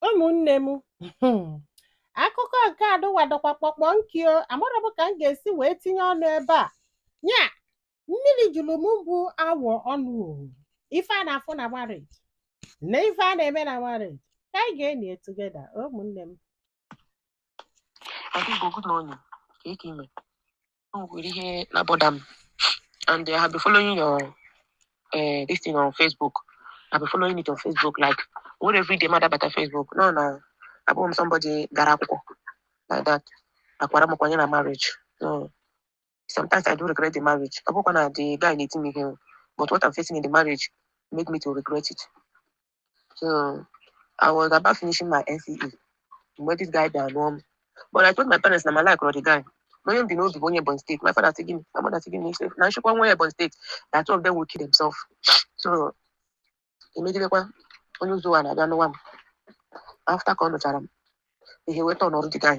ụmụnne m hmm, akụkọ nke adụwa dọkwa kpọkpọ nkio amarọ m ka m ga-esi wee tinye ọnụ ebe a nya mmiri juru m bụ awọ ọnụ ọ wụ ife a na-afụ na marriage na ife a na-eme na marriage ka anyị ga-ene together ụmụnne m Ada Igbo good morning. Kee ka i me. O nwere ihe na-abother m. And I have been following your uh, this thing on Facebook. I've been following it on Facebook. Like, not every day m na-abata Facebook. You know na abụhọ m somebody gara akwụkwọ like that. A kwara m kwanye na marriage. So, Sometimes I do regret the marriage. Ọ bụkwa na the guy na-eti m ihe o. But what I'm facing in the marriage made me to regret it. So I was about finishing my NCE mgbe this guy bịara lụọ m. But I told my parents na mụ alikerọ the guy. Na onye m bu n'obi bụ onye Ebonyi State. My father sị gịnị? My mother sị gịnị? Ha sị na m sịkwa onye Ebonyi State. That two of them will kill themselves. So emegidekwa onye ụzọ wee na-abịa nwa m after ka ọ nụchara m enwetarọ ọrụ the guy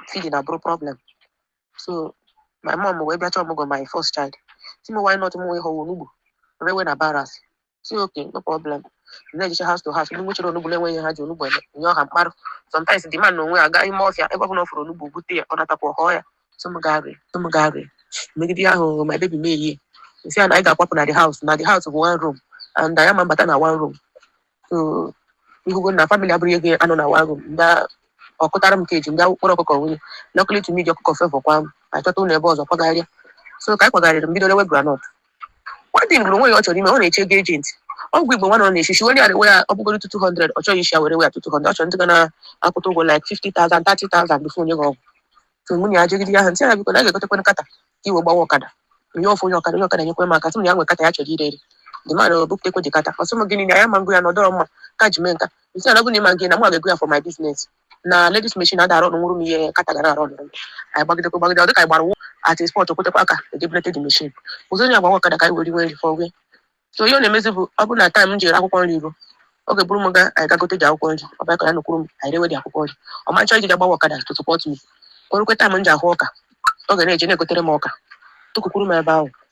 feeding abụrụ problem so my mom wee bịa chọọ ọmụgwọ my first child sị m why not m wee họwa onugbu rewe na barracks sị okay no problem na-ejecha house to house ndị nwechara onugbu na-enweghị ihe ha ji onugbu eme m yọọ ha m kpara sometimes the man na onwe ya gaa ime ọfịa ebe ọ bụla ọ fụrụ onugbu bute ya ọ natakwa ọ họọ ya so m gaa ree so m gaa ree megide ihe ahụ mụọ baby m wee sị ya na anyị ga-akwapụ na the house na the house bụ one room and anyị ama mbata na one room so ị hụgo na family abụrọ ihe ga-anọ na one room mgbe ọ kụtara m cage m bịa kpọrọ ọkụkọ wụnye luckily to me the ọkụkọ favour kwa m achọta ụlọ ebe ọzọ kwagharịa so ka anyị kwagharịrị m bido lewe groundnut one thing bụ o nwere ihe ọ chọrọ ime ọ na-eche ego agent ọgwụ igbo nwana ọ na-echichi were ya rewe ya ọ bụgodu 200 ọ chọghị isi ya were ree ya 200 ọ chọrọ ndị ga na-akwụ ya ụgwọ like 50,000 30,000 before o nye gị ọgwụ so m wee yọgide ya m sị ya biko na a ga-egotekwana kata ka i wee gbawa ọkada anyị afụ onye ọkada onye ọkada nyekwe m aka sị m na ya nwe kata ya chọrọ ire ere the man ebupụtakwa the kata ọ sị m gịnị na ya ama ngo ya na ọ dịrọ mma ka ji mee nka m sị ya ọ bụ na ị ma ngo ya na mụ ga-ego ya for my business na ladies machine ada-arụnwuru m ihe kata ga-arụnwu anyị gbagidekwa gbagide ọ dịka anyị gbara wụ at a spot o kwetekwa ka e debe ladies machine ọ zọnye ya gbawa ọkada ka anyị wee riwe nri for where so ihe ọ na-emezi bụ ọ bụrụ na time m ji ere akwụkwọ nri ruo ọ ga-eburu m ga anyị ga gote the akwụkwọ nri ọ bịakwa nọkwuru m anyị rewe the akwụkwọ nri ọ ma nchọ ije ga gbawa ọkada to support me o rukwee time m ji ahụ ọka ọ ga na-eje na-egotere m ọka tụkwukwuru m ebe ahụ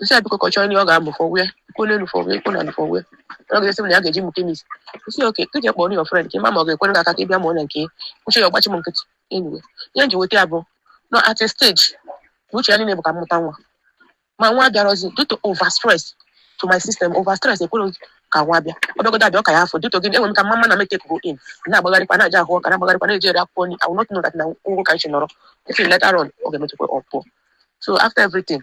m sị ya biko ka ọ chọọ ihe ọ ga-amụ for where i kwuo n'elu for where i kwuo n'ala for where ọ ga-asị m na ya ga-eje mụọ chemist m sị okay ka i jee kpọrọ your friend ka ị ma ma ọ ga-enyere gị aka ka ị bịa mụọ na nke ya echi ya ọ gbachi m nkịtị anyway ihe m ji weta ya bụ na at a stage na uche ya niile bụ ka m mụta nwa ma nwa abịarọzi due to over stress to my system over stress ekwerọ ka nwa bịa ọ bịagodu abịa ọ ga-apụ due to gịnị enwerọ m ka m ma na m etakego in na-agbagharịkwa na-eje ahụ ọka na-agbagharịkwa na-eje ere akwụkwọ nri I will not know that na ọ wụ ka m si nọrọ ị fụ later on ọ ga-emetụkwa ọ pụọ so after everything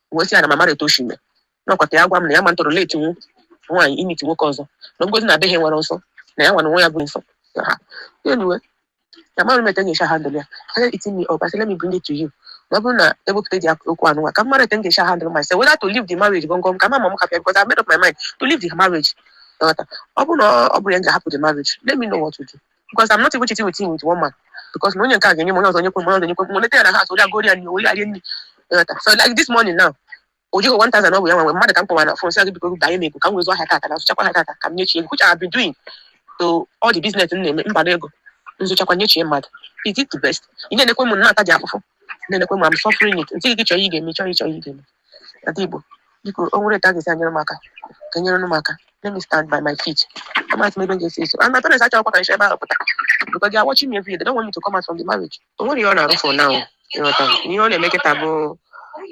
wee sị ya na m amarọ etu o si mee nakwa ka ya gwa m na ya ama tolerate nwa nwaanyị imiti nwoke ọzọ na ngozi na abịaghị nwere nsọ na ya nwa na onwe ya bụ nsọ Ya ha. Anyway, na amarọ m etu m ga-esi handle ya aka eating me up I say let me bring it to you na ọ bụrụ na ewepụta ụdị ak- okwu anụnwa ka m mara etu m ga-esi handle myself whether to leave the marriage gọngọm ka m ma ma m hapụ ya because I made up my mind to leave the marriage Ịghọta? ọ bụrụ na ọ bụrụ ya m ga-ahapụ the marriage let me know what to do because I'm not even cheating with him with one man because na onye nke a ga-enye m onye ọzọ onye kwe m onye ọzọ onye kwe m onye ya na ha ori agori ya nri ori arie nri ịghọta so like this morning now o jigo 1000 ọ bụ ya nwe mmadụ ka m kpọwa na fon sị gị biko binye m ego ka m wee zụọ ahịa tata m zụchakwa ahịa tata ka m nyechie which I have been doing so all the business m na-eme mba na ego m zụchakwa nyechie mmadụ is it the best ị na-enekwa m na-ata ụdị afụfụ na-elekwa m I'm suffering it m sị gị chọọ ihe ị ga-eme chọọ ihe chọọ ihe ị ga-eme ada igbo biko o nwere etu a ga-esi enyere m aka ka enyere m aka let me stand by my feet amazị m ebe m ga-esi eso and my parents achọghịkwa ka m si ebe ahụ pụta because they are watching me every day they don't want me to come out from the marriage o nwerọ ihe ọ na-arụ for now ịghọta ihe ọ na-eme kịta bụ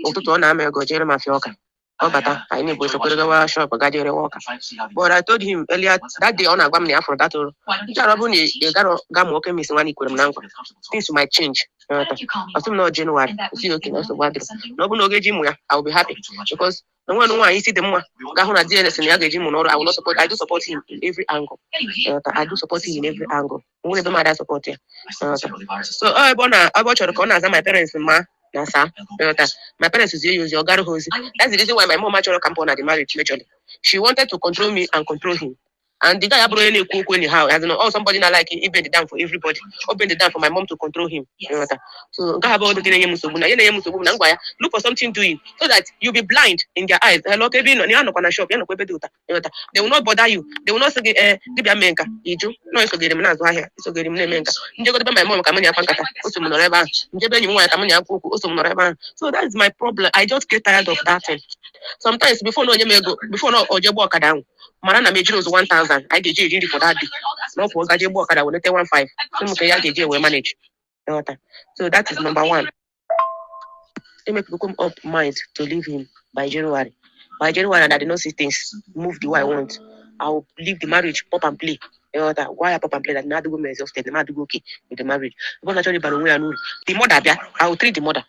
ụtụtụ ọ nara m ego jere m afịa ọka ọ bata ka anyị na-ebu esokwere gawa shop ga je rewe ọka but I told him earlier that day ọ na-agwa m na ya fụrụ that ọrụ nchara ọ bụrụ na ị gara ga mụọ chemist nwa na i kwere m na nkwa things might change ịghọta ọ sị m na ọ January sị okay na nsogbu adịrọ na ọ bụrụ na ọ ga-eje mụ ya I will be happy because na nwa nwaanyị isi dị mma ga-ahụ na di ya sị na ya ga-eje mụọ ọrụ and will not support I do support him in every angle ịghọta I do support him in every angle o nwerọ ebe m na-adị asupport ya so ọ ebe ọ na ebe ọ chọrọ ka ọ na-aza my parents ma and sir ịghọta my parents zie ya ozi ọ gara ha ozi that's the reason why my mom achọrọ ka m pụọ na the marriage majorly she wanted to control me and control him and the guy abụrọ onye na-ekwu okwu anyhow as in ọ somebody na like he bend down for everybody o bend down for my mom to control him ịghọta so nke a abụrọdụ ihe na-enye m nsogbu na ihe na-enye m nsogbu bụ na m gwa ya look for something doing so that you be blind in their eyes hello kee ebe ị nọ na ya nọkwa na shop ya nọkwa ebe dị ụta ịghọta they will not bother you they will not sị gị ee gị bịa mee nke a iju nọ esogharị m na-azụ ahịa esogharị m na-eme nke a m jegodu be my mom ka m na ya kọwa nkata o so m nọrọ ebe ahụ m je be enyi m nwaanyị ka m na ya kwuo okwu o so m nọrọ ebe ahụ so that is my problem i just get tired of that thing sometimes before na o nye m ego before na o je gba ọkada ahụ mara na m ejiri ụzọ 1000 anyị ga-eji eri nri for that day na ọ pụọ gaje gba ọkada weleta 15 sị m ka ya ga-eji wee manage ịghọta so that is number one emakebugo m up mind to leave him by January by January and I did not see things move the way I want I will leave the marriage pump and plain ịghọta gwa ya pump and plain that na adịgo m exhausted na m adịrọ okay with the marriage ebe ọ na-achọrọ ịbara onwe ya n'uru the mother bịa I will treat the mother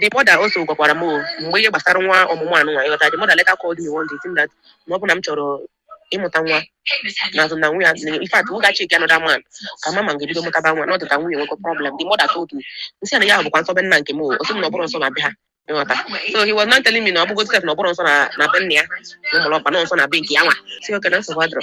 The mother also gwakwara m o, mgbe ihe gbasara nwa ọmụmụ anụnwa ịghọta the mother later called me one day saying that na ọ bụ na m chọrọ ịmụta nwa na azụ na nwunye azụ in fact ga check another man ka m ma ma m ga-ebido mụtaba nwa na ọ dịka nwa ya nwekwa problem the mother told me m sị na ya bụkwa nsọ be nna nke m o ọ sị m na ọ bụrọ nsọ na be ha ịghọta so he was now telling me na ọ bụgo sef na ọ bụrọ nsọ na na be nna ya na m mara ọkwa na nsọ na be nke ya nwa sị okay na nsogbu adịrọ